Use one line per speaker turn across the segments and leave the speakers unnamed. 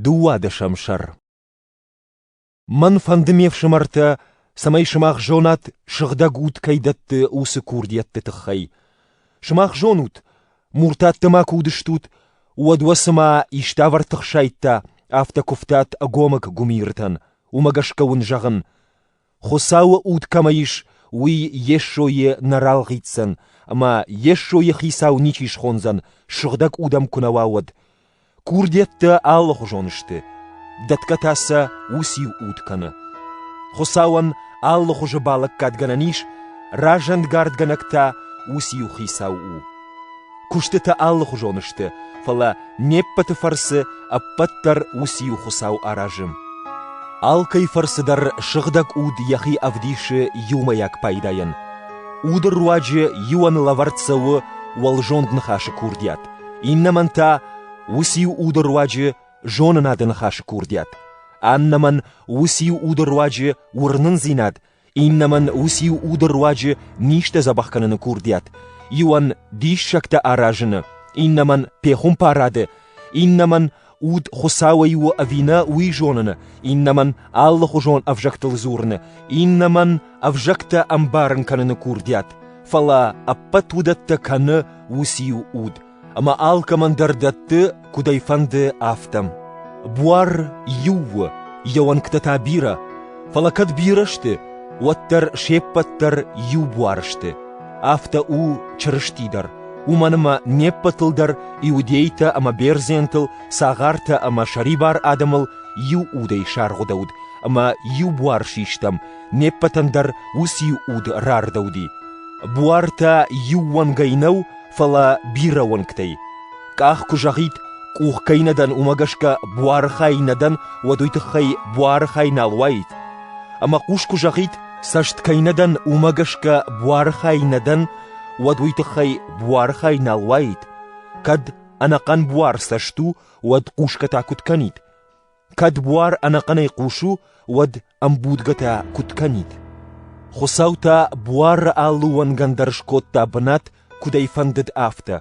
Дыууадӕсӕм сӕр Мӕн фӕнды, ме фсымӕртӕ, цӕмӕй сымах зонат, сыгъдӕг уд кӕй дӕтты уыцы курдиӕтты тыххӕй. Сымах зонут, муртаттӕ ма куы уыдыстут, уӕд уӕ цыма иставӕр тыхсайдта, афтӕ куывтат ӕгомыг гуымиртӕн, уымӕ гӕсгӕ уын зӕгъын: Хуыцауы уд кӕмӕ ис, уый Йесойы нӕ ралгъитдзӕн, ӕмӕ Йесойы хицау ничи схондзӕн, сыгъдӕг уд ӕм куы нӕ уа, уӕд. Курдиӕттӕ алыхуызон сты, дӕтгӕ та сӕ уыциу уд кӕны. Хуыцауӕн алыхуызы балӕггадгӕнӕн ис, разӕнгардгӕнӕг та уыциу хицау у. Куыстытӕ алыхуызон сты, фӕлӕ не ппӕты фӕрцы ӕппӕт дӕр уыцы-иу Хуыцау аразы. Алкӕй фӕрцы дӕр сыгъдӕг уд йӕхи ӕвдисы иумӕйаг пайдайӕн. Уды руаджы иуӕн лӕвӕрд цӕуы уӕлзонд ныхасы курдиат, иннӕмӕн та уыцы-иу уды руаджы зонынады ныхасы курдиат, аннӕмӕн уыцы-иу уды руаджы уырнындзинад Иннӕмӕн уыциу уды руаджы низтӕ дзӕбӕх кӕныны курдиат, иуӕн диссӕгтӕ аразыны, иннӕмӕн пехуымпарады, иннӕмӕн уд Хуыцауӕй у ӕви нӕ, уый зоныны, иннӕмӕн алыхуызон ӕвзӕгтыл дзурыны, иннӕмӕн ӕвзӕгтӕ ӕмбарын кӕныны курдиат, фӕлӕ ӕппӕт уыдӕттӕ кӕны уыциу уд. ӕмӕ алкӕмӕн дӕр дӕтты, куыд ӕй фӕнды, афтӕ. Буар иу у, йӕ уӕнгтӕ та бирӕ, фӕлӕ кӕд бирӕ сты, уӕддӕр се ппӕт дӕр иу буар сты. Афтӕ у Чырысти дӕр, уымӕн ӕмӕ не ппӕтыл дӕр иудейтӕ ӕмӕ бердзентыл, цагъартӕ ӕмӕ сӕрибар адӕмыл иу удӕй саргъуыдӕуыд, ӕмӕ иу буар систам, не ппӕтӕн дӕр уыцы иу уд рардӕуыди. Буартӕ иу уӕнгӕй нӕу, Фӕлӕ бирӕ уӕнгтӕй. Къах куы зӕгъид, къух кӕй нӕ дӕн, уымӕ гӕсгӕ буары хай нӕ дӕн, уӕд уый тыххӕй буары хай нал уаид. Ӕмӕ хъус куы зӕгъид, цӕст кӕй нӕ дӕн, уымӕ гӕсгӕ буары хай нӕ дӕн, уӕд уый тыххӕй буары хай нал уаид. Кӕд ӕнӕхъӕн буар цӕст у, уӕд хъусгӕ та куыд кӕнид? Кӕд буар ӕнӕхъӕнӕй хъус у, уӕд ӕмбудгӕтӕ куыд кӕнид. Хуыцау та буары алы уӕнгӕн дӕр скодта бынат, куыд ӕй фӕндыд, афтӕ.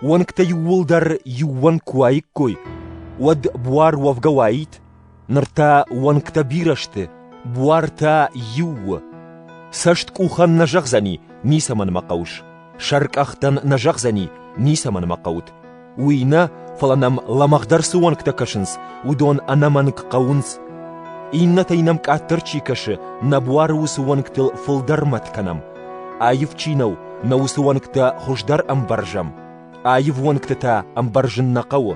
Уӕнгтӕ иууылдӕр иууӕн куы уаиккой, уӕд буар уӕвгӕ уаид? Ныр та уӕнгтӕ бирӕ сты, буар та иу у. Цӕсткъухӕн нӕ зӕгъдзӕни, ницӕмӕн мӕ хъӕуыс. Сӕркъӕхтӕн нӕ зӕгъдзӕни, ницӕмӕн мӕ хъӕут. Уый нӕ, фӕлӕ нӕм лӕмӕгъдӕр цы уӕнгтӕ кӕсынц, уыдон ӕнӕмӕнг хъӕуынц. Иннӕтӕй нӕм къаддӕр чи кӕсы, нӕ буары уыцы уӕнгтыл фылдӕр мӕт кӕнӕм. Аив чи нӕу, нӕ уыцы уӕнгтӕ хуыздӕр ӕмбӕрзӕм. Аив уӕнгты та ӕмбӕрзын нӕ хъӕуы.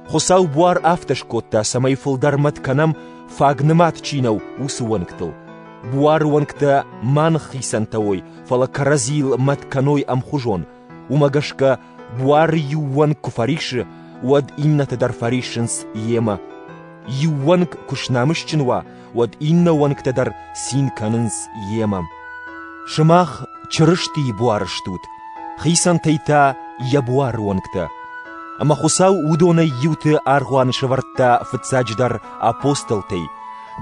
Хуыцау буар афтӕ скодта, цӕмӕй фылдӕр мӕт кӕнӕм, фаг нымад чи нӕу, уыцы уӕнгтыл. Буары уӕнгтӕ ма ныххицӕнтӕ уой, фӕлӕ кӕрӕдзийыл мӕт кӕной ӕмхуызон. Уымӕ гӕсгӕ Буары иу уӕнг куы фӕрисы, уӕд иннӕтӕ дӕр фӕриссынц йемӕ. Иу уӕнг куы снамысджын уа, уӕд иннӕ уӕнгтӕ дӕр цин кӕнынц йемӕ. Сымах Чырыстийы буары стут, хицӕнтӕй та йӕ буары уӕнгтӕ. Ӕмӕ Хуыцау уыдонӕй иуты аргъуаны сӕвӕрдта фыццаджыдӕр апостолтӕй,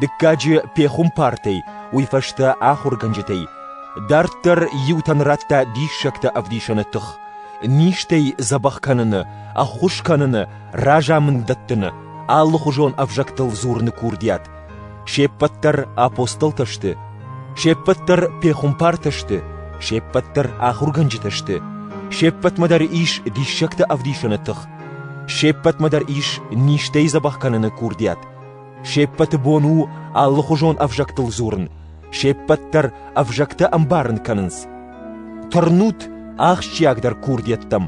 дыккаджы пехуымпартӕй, уый фӕстӕ ахуыргӕнджытӕй, Дарддӕр иутӕн радта диссӕгтӕ ӕвдисӕны тых, низтӕй дзӕбӕх кӕныны, ӕххуыс кӕныны, разамынд дӕттыны, алыхуызон ӕвзӕгтыл дзурыны курдиат. Се ппӕт дӕр апостолтӕ сты, се ппӕт дӕр пехуымпартӕ сты, се ппӕт дӕр ахуыргӕнджытӕ сты, се ппӕтмӕ дӕр ис диссӕгты ӕвдисӕны тых, се ппӕтмӕ дӕр ис низтӕй дзӕбӕх кӕныны курдиат. Се ппӕты бон у алыхуызон ӕвзӕгтыл дзурын, се ппӕт дӕр ӕвзӕгтӕ ӕмбарын кӕнынц. Тырнут ахсджиагдӕр курдиӕттӕм,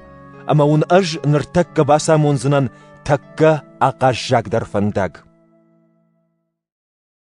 ӕмӕ уын ӕз ныртӕккӕ бацамондзынӕн тӕккӕ ахъаззагдӕр фӕндаг.